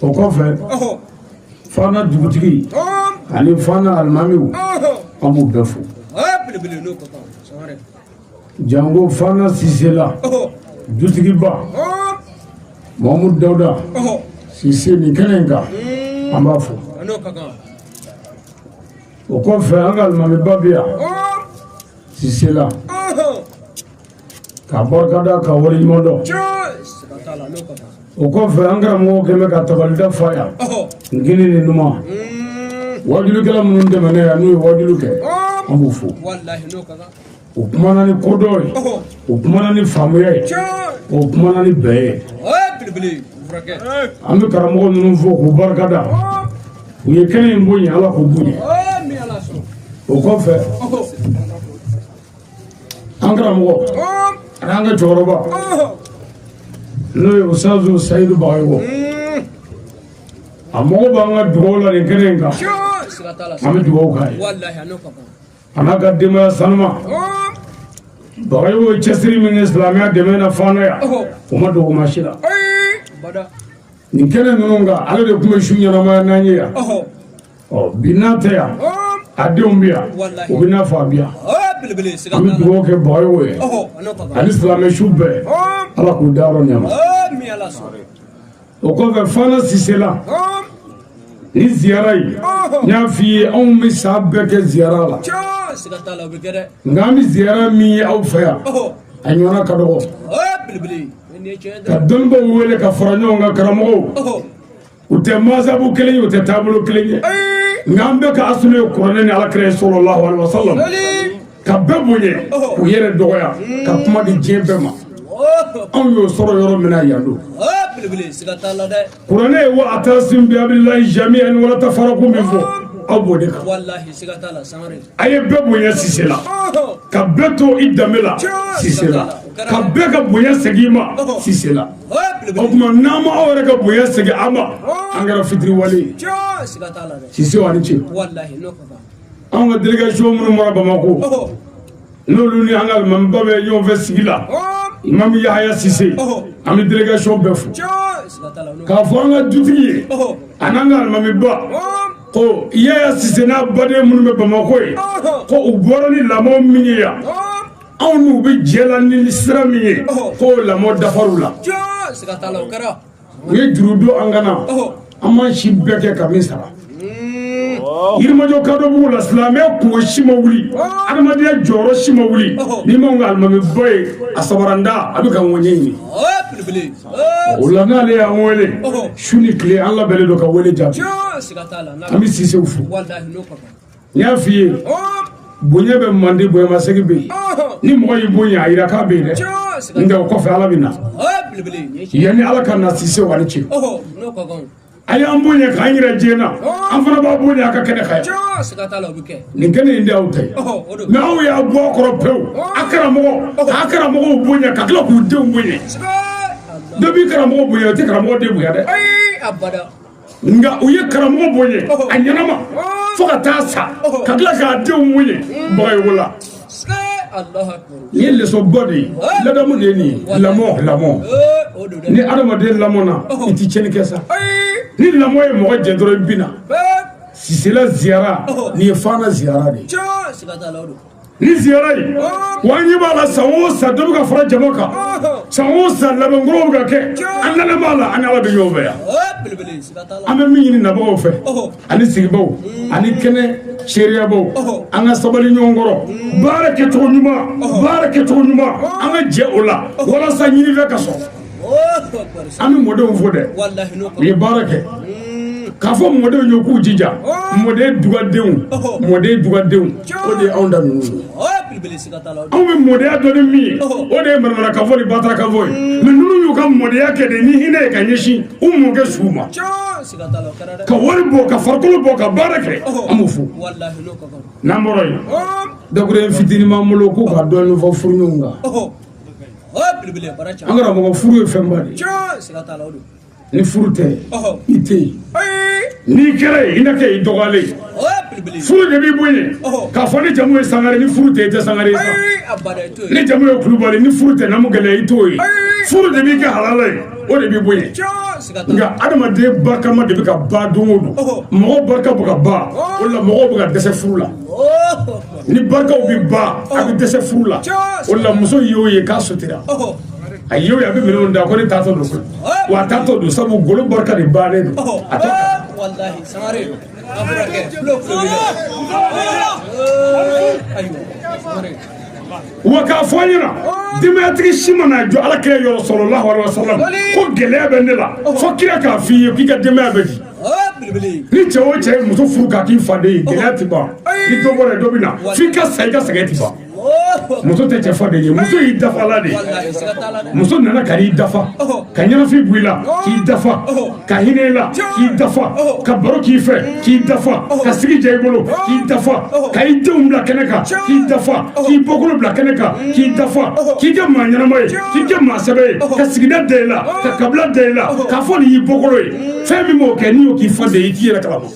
o kɔfɛ fana dugutigi ani fana alimamiw an b'u bɛɛ fo jango fana sisela dutigiba mahamudu dawuda sise nin kɛnɛ in kan an b'a fo o kɔfɛ an ka alimamiba bɛ yan sisela ka barikada ka waleɲuman dɔn o kɔfɛ an karamɔgɔ kɛmɛ ka tabalida fa yan n kini ni numan wajulikɛla minnu tɛmɛna yan n'u ye wajulu kɛ an b'u fo u kumana ni kodɔn ye u kumana ni faamuya ye u kumana ni bɛɛ ye an bɛ karamɔgɔ ninnu fo k'u barikada u ye kɛnɛ in bonya ala k'u bonya o kɔfɛ an karamɔgɔ an'an ka cɛkɔrɔba n'o ye usazu sayidu bagayogo a mago b'an ka dugawu la nin kɛnɛ in kan an bɛ dugawu k'a ye a n'a ka denbaya sanuma bagayogo ye cɛsiri min kɛ silamɛya dɛmɛ na fana yan o ma dogo maa si la nin kɛnɛ ninnu kan ale de tun bɛ su ɲɛnamaya n'an ye yan ɔ bi n'a tɛ yan a denw bɛ yan o bɛ n'a fɔ a bɛ yan an bɛ dugawu kɛ bagayogo ye ani silamɛ su bɛɛ ala k'u dayɔrɔ nɛɛma o kɔfɛ fana sise la nin ziyara in n y'a f'i ye anw bɛ san bɛɛ kɛ ziyara la nka an bɛ ziyara min ye aw fɛ yan a ɲɔgɔnna ka dɔgɔ ka dɔnnibaaw wele ka fara ɲɔgɔn kan karamɔgɔw u tɛ mazabu kelen ye u tɛ taabolo kelen ye nka an bɛɛ ka asulu ye kuranɛ ni alakira ye sallallahu alaihi wasallam ka bɛɛ bonya k'u yɛrɛ dɔgɔya ka kuma di diɲɛ bɛɛ ma anw y'o sɔrɔ yɔrɔ min na yan don kuranɛ ye wa atasim bi hablillahi jami'an wala tafaraku min fɔ aw b'o de kan a ye bɛɛ bonya sise la ka bɛɛ to i danbe la sise la ka bɛɛ ka bonya segin i ma sise la o tuma n'an ma aw yɛrɛ ka bonya segin aw ma an kɛra fitiriwale ye sise aw ni ce anw ka delegation minnu bɔra bamakɔ n'olu ni an ka alimamiba bɛ ɲɔgɔn fɛ sigi la imam yahaya sise an bɛ delegation bɛɛ fo k'a fɔ an ka dutigi ye a n'an ka alimamiba ko yaya sise n'a baden minnu bɛ bamakɔ ye ko u bɔra ni lamɔ min ye yan anw n'u bɛ jɛ la ni sira min ye ko lamɔ dafar'u la u ye juru don an kan na an m'an si bɛɛ kɛ ka min sara yirimajɔ kadɔbugu la silamɛya kunko si ma wuli adamadenya jɔyɔrɔ si ma wuli n'i m'an ka alimamiba ye a sabaranda a bɛ ka ŋɔɲɛ ɲini o la n'ale y'an wele su ni tile an labɛnnen don ka wele jaabi an bɛ sisew fo n y'a f'i ye bonya bɛ mande bonyamasegin bɛ yen ni mɔgɔ y'i bonya a yira k'a bɛ yen dɛ nka o kɔfɛ ala bɛ na yanni ala ka na sisew a ni ce a y'an bonya k'an yira diɲɛ na an fana b'a bonya a ka kɛnɛ kan yan nin kɛnɛ in de y'aw ta ye mɛ aw y'a bɔ a kɔrɔ pewu a karamɔgɔ k'a karamɔgɔw bonya ka tila k'u denw bonya dɔ b'i karamɔgɔ bonya o tɛ karamɔgɔ den bonya dɛ nka u ye karamɔgɔ bonya a ɲɛnama fo ka taa sa ka tila k'a denw bonya bagayogo la nin ye lesɔnba de ye ladamu de ye nin ye lamɔ lamɔ ni adamaden lamɔna i ti tiɲɛni kɛ sa ni lamɔ ye mɔgɔ jɛ dɔrɔn i bina sisela ziyara nin ye fana ziyara de ye ni ziyara ye wa an ɲɛ b'a la san o san dɔ bɛ ka fara jama kan san o san labɛnkɔrɔw bɛ ka kɛ an dalen b'a la an ni ala bɛ ɲɔgɔn fɛ yan an bɛ min ɲini nabagaw fɛ ani sigibaaw ani kɛnɛ seereyabaaw an ka sabali ɲɔgɔn kɔrɔ baara kɛcogo ɲuman baara kɛcogo ɲuman an ka jɛ o la walasa ɲinifɛn ka sɔrɔ an bɛ mɔdenw fo dɛ u ye baara kɛ k'a fɔ mɔdenw ye k'u jija mɔden dugadenw mɔden dugadenw o de ye anw da ninnu anw bɛ mɔdenya dɔn ni min ye o de ye manamanakan fɔ ni batarakan fɔ ye mɛ ninnu y'u ka mɔdenya kɛ de ni hinɛ ye ka ɲɛsin u mɔkɛ suw ma ka wari bɔ ka farikolo bɔ ka baara kɛ an b'u fo n'an bɔra yen dakurun fitinin b'an bolo k'u ka dɔɔnin fɔ furuɲɔgɔnw kan an karamɔgɔ furu ye fɛnba de ye ni furu tɛ i tɛ yen n'i kɛra yen i na kɛ i dɔgɔyalen ye furu de b'i bonya k'a fɔ n'i jamu ye sangare ni furu tɛ i tɛ sangare ye n'i jamu ye kulubali ni furu tɛ namu gɛlɛya i t'o ye furu de b'i kɛ halala ye o de b'i bonya nka adamaden barikama de bɛ ka ban don o don mɔgɔ barika bɛ ka ban o la mɔgɔw bɛ ka dɛsɛ furu la ni barikaw bɛ ban a bɛ dɛsɛ furu la o la muso y'o ye k'a sutura a y'o ye a bɛ minɛnw ta ko ne taatɔ don koyi wa a taatɔ don sabu golo barika de bannen don a tɛ wa k'a fɔ an ɲɛna denbayatigi si ma na jɔ ala kira yɔrɔ sallallahu alaihi wasallam ko gɛlɛya bɛ ne la fo kira k'a f'i ye k'i ka denbaya bɛ di ni cɛ o cɛ muso furu k'a k'i faden ye gɛlɛya ti ban ni dɔ bɔra dɔ bɛ na f'i ka sa i ka sɛgɛn ti ban muso tɛ cɛ faden ye muso y'i dafala de muso nana ka n'i dafa ka ɲɛnafin bɔ i la k'i dafa ka hinɛ i la k'i dafa ka baro k'i fɛ k'i dafa ka sigi diya i bolo k'i dafa ka i denw bila kɛnɛ kan k'i dafa k'i bɔkolo bila kɛnɛ kan k'i dafa k'i kɛ maa ɲɛnama ye k'i kɛ maa sɛbɛ ye ka sigida da i la ka kabila da i la k'a fɔ nin y'i bɔkolo ye fɛn min b'o kɛ n'i y'o k'i faden ye i t'i yɛrɛ kalama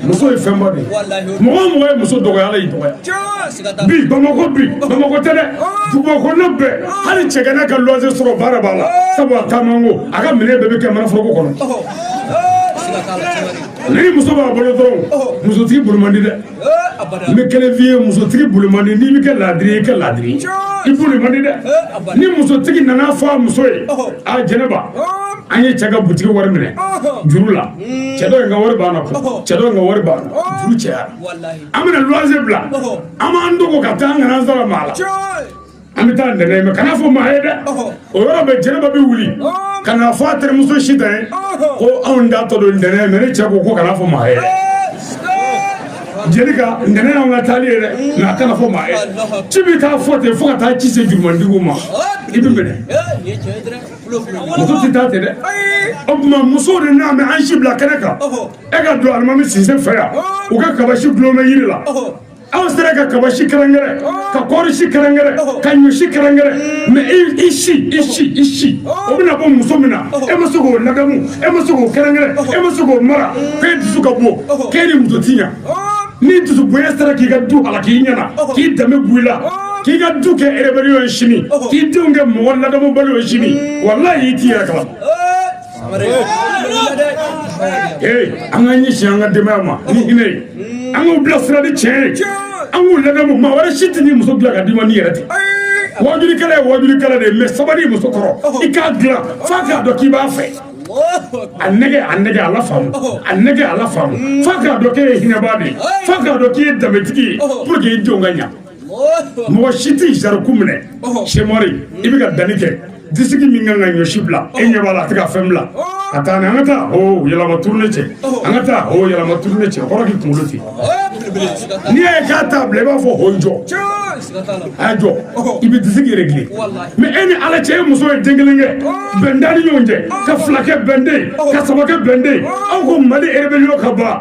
muso ye fɛnba de ye mɔgɔ o mɔgɔ ye muso dɔgɔya ala y'i dɔgɔya bi bamakɔ bi bamakɔ tɛ dɛ duguba kɔnɔ bɛɛ hali cɛgana ka luwanse sɔrɔ baara b'a la sabu a taamatɔ a ka minɛn bɛɛ bɛ kɛ manaforoko kɔnɔ ni muso b'a bolo dɔrɔn musotigi boli man di dɛ n bɛ kelen f'i ye musotigi boli man di n'i bɛ kɛ laadiri i kɛ laadiri i boli man di dɛ ni musotigi nana fɔ a muso ye a jɛnɛba an ye cɛ ka butigi wari minɛ juru la hmm. cɛ dɔ in ka wari b'an na cɛ dɔ in ka wari b'an na juru cɛyara an bɛna luwanse bila an b'an dogo ka taa an kana an sara maa la an bɛ taa ntɛnɛn mɛ kana fɔ maa ye dɛ o yɔrɔ bɛɛ jɛnɛba bɛ wuli ka na fɔ a terimuso sita ye ko anw taatɔ don ntɛnɛn mɛ ne cɛ ko ko kana fɔ maa ye jelika ntɛnɛn y'anw ka taali ye dɛ mɛ a kana fɔ maa ye ci bɛ taa fɔ ten fo ka taa ci se jurumantigiw ma i bɛ minɛ muso tɛ taa ten dɛ o tuma musow de n'a mɛ an si bila kɛnɛ kan e ka don alimami sise fɛ yan u ka kabasi dulon bɛ yiri la e sera ka kaba si kɛrɛnkɛrɛn ka kɔɔri si kɛrɛnkɛrɛn ka ɲɔ si kɛrɛnkɛrɛn mɛ i si i si i si o bɛna bɔ muso min na e ma se k'o ladamu e ma se k'o kɛrɛnkɛrɛn e ma se k'o mara k'e dusu ka bon k'e ni muso ti ɲa ni dusu bonya sera k'i ka du halaki i ɲɛna k'i danbe b'i la k'i ka du kɛ rébellion ye sini k'i denw kɛ mɔgɔ ladamubaliw ye sini walayi i t'i yɛrɛ kalama an ka ɲɛsin an ka denbaya ma ni hinɛ ye an k'u bilasira ni tiɲɛ ye an k'u ladamu maa wɛrɛ si tɛ n'i muso dilan ka d'i ma n'i yɛrɛ tɛ wajulikɛla ye wajulikɛla de ye mɛ sabali muso kɔrɔ i k'a dilan f'a k'a dɔn k'i b'a fɛ a nɛgɛn a nɛgɛn a lafaamu a nɛgɛn a lafaamu f'a k'a dɔn k'e ye hinɛbaa de ye f'a k'a dɔn k'i ye danbetigi ye pour que i denw ka ɲa mɔgɔ si tɛ sariku minɛ semɔri i bɛ ka danni kɛ disiki min kan ka ɲɔsi bila e ɲɛ b'a la a tɛ ka fɛn bila ka taa ni an ka taa o yɛlɛma tourner cɛ an ka taa o yɛlɛma tourner cɛ kɔrɔ k'i kunkolo ten n'i y'a ye k'a t'a bila i b'a fɔ o jɔ a y'a jɔ i bɛ disiki régler mɛ e ni ala cɛ e muso ye den kelen kɛ bɛn t'aw ni ɲɔgɔn cɛ ka fila kɛ bɛn tɛ yen ka saba kɛ bɛn tɛ yen aw ko mali rébellion ka ban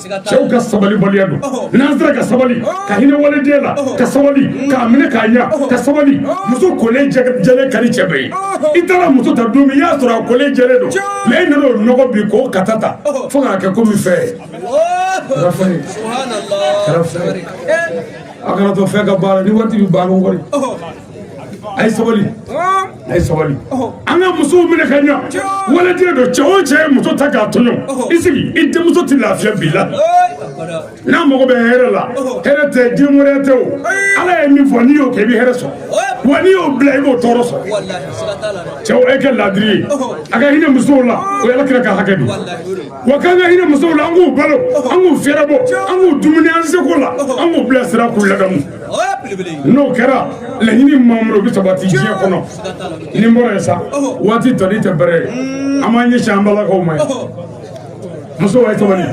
cɛw ka sabalibaliya don n'an sera ka sabali ka hinɛ waliden la ka sabali k'a minɛ k'a ɲa ka sabali muso kolen jɛlen ka di cɛ bɛɛ ye i taara muso ta don min i y'a sɔrɔ a kolen jɛlen don mɛ i nana o nɔgɔ bi k'o kata ta fo k'a kɛ komi fɛn ye a kana to fɛn ka baara ni waati bɛ baara kɔni a ye sabali a ye sabali an ka musow minɛ ka ɲa waliden don cɛ o cɛ ye muso ta k'a tɔɲɔ i sigi i denmuso tɛ lafiya bi la n'a mago bɛ hɛrɛ la hɛrɛ tɛ diɲɛ wɛrɛ tɛ o ala ye min fɔ n'i y'o kɛ i bɛ hɛrɛ sɔrɔ wa n'i y'o bila i b'o tɔɔrɔ sɔrɔ cɛw e kɛ laadiri ye a ka hinɛ musow la o y'ala kira ka hakɛ don wa k'an ka hinɛ musow la an k'u balo an k'u fɛrɛbɔ an k'u dumuni an seko la an k'u bilasira k'u ladamu n'o kɛra laɲini mamudu bɛ sabati diɲɛ kɔnɔ ni n bɔra yen sa waati tɔli tɛ bɛrɛ ye an b'an ɲɛsin an balakaw ma yen muso ye sabali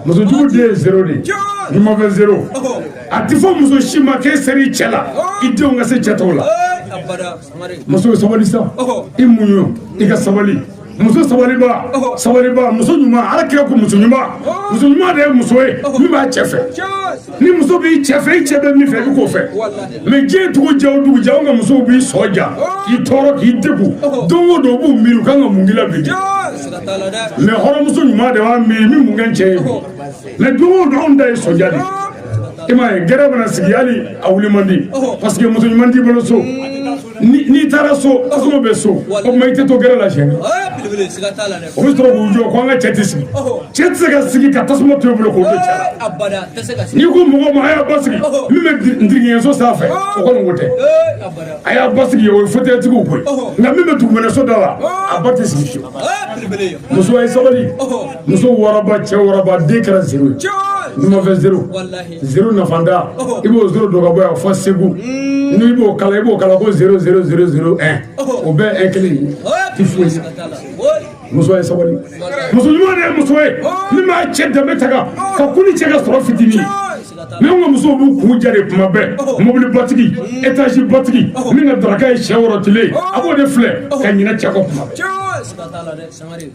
musojugu den ye zero de ye numan fɛ zero a tɛ fɔ muso si ma k'e sera i cɛ la i denw ka se cɛ tɔw la muso sabali sa i muɲu i ka sabali muso sabaliba sabaliba muso ɲuman ala kira ko muso ɲuman muso ɲuman de ye muso ye min b'a cɛ fɛ ni muso b'i cɛ fɛ i cɛ bɛ min fɛ i k'o fɛ mɛ diɲɛ dugu jɛ o dugu jɛ anw ka musow b'i sɔn ja k'i tɔɔrɔ k'i degun don o don u b'u miiri u kan ka mun k'i la bi mɛ hɔrɔnmuso ɲuman de b'a miiri n bɛ mun kɛ cɛ ye mɛ don o don anw ta ye sɔnja de i m'a ye gɛrɛn mana sigi hali a wuli man di paseke muso ɲuman t'i bolo so n'i taara so tasuma bɛ so o tuma i tɛ to gɛrɛn la siyɛn o bɛ sɔrɔ k'u jɔ ko an ka cɛ tɛ sigi cɛ tɛ se ka sigi ka tasuma to i bolo k'o bɛ cɛ n'i ko mɔgɔ ma a y'a ba sigi min bɛ ntigiɲɛso sanfɛ o kɔni ko tɛ a y'a ba sigi o ye fotɛyitigiw ko ye nka min bɛ dugumɛnɛso da la a ba tɛ sigi fiyewu muso ye sabali muso wɔɔrɔba cɛ wɔɔrɔba den kɛra zero ye numan fɛ zero Zero nafantan i b'o zero don ka bɔ yan fo segu n'i b'o kalan i b'o kalan ko zero zero zero zero ɛn o bɛɛ ɛn kelen ye tɛ foyi muso ye sabali muso ɲuman de ye muso ye min b'a cɛ danbe tanga ka kun i cɛ ka sɔrɔ fitinin mɛ an ka musow b'u kun ja de kuma bɛɛ mobili batigi etaz batigi min ka daraka ye sɛ worotilen a b'o de filɛ ka ɲina cɛ kɔ kuma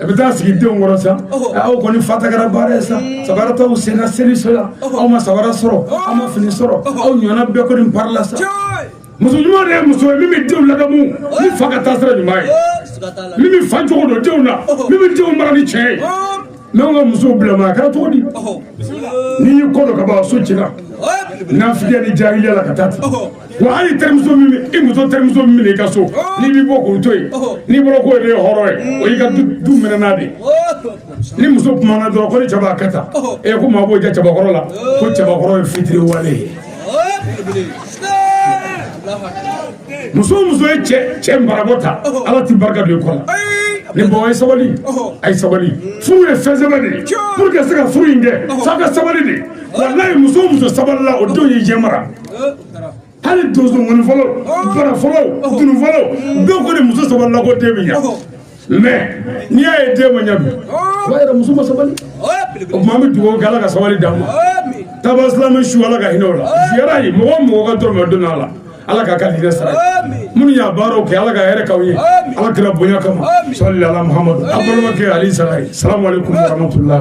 a bɛ taa sigi denw kɔrɔ sa aw kɔni fa ta kɛra baara ye sa sabara t'aw sen na seli so yan aw ma sabara sɔrɔ aw ma fini sɔrɔ aw ɲɔgɔnna bɛɛ kɔni parila sa muso ɲuman de ye muso ye min bɛ denw ladamu ni fa ka taa sira ɲuman ye min bɛ fa cogo don denw na min bɛ denw mara ni tiɲɛ ye mɛ anw ka musow bilama a kɛra cogo di n'i y'i kɔ don ka ban so cila nafigiya ni jahiliya la ka taa ten Wa hali terimuso i muso terimuso min i ka so n'i bɛ bɔ k'o to yen n'i bɔra ko de ye hɔrɔn ye o y'i ka du minɛ n'a de ni muso kumana dɔrɔn ko ni cɛ b'a kɛ tan ko maa b'o ja cɛbakɔrɔ la ko cɛbakɔrɔ ye fitiriwale ye muso o muso ye cɛ cɛ marabɔ ta ala tɛ barika don i kɔ la ni bonya ye sabali a ye sabali furu ye fɛn sɛbɛ de ye pour que se ka furu in kɛ f'a ka sabali de walayi muso o muso sabalila o denw ye diɲɛ mara hali donso ŋɔni fɔlaw bara fɔlaw dunu fɔlaw bɛɛ ko de muso sabalila k'o den bɛ ɲa mais n'i y'a ye den ma ɲa bi o b'a yira muso ma sabali o tuma an bɛ dugawu kɛ ala ka sabali d'an ma taabaa silamɛ su ala ka hinɛ o la ziyara ye mɔgɔ o mɔgɔ ka dɔrɔmɛ o donna a la ala k'a ka hinɛ sara minnu y'a baaraw kɛ ala ka hɛrɛ k'aw ye ala kira bonya kama sɔli ala muhamadu a balimakɛ ali sara ye salamu aleykum warahmatulahi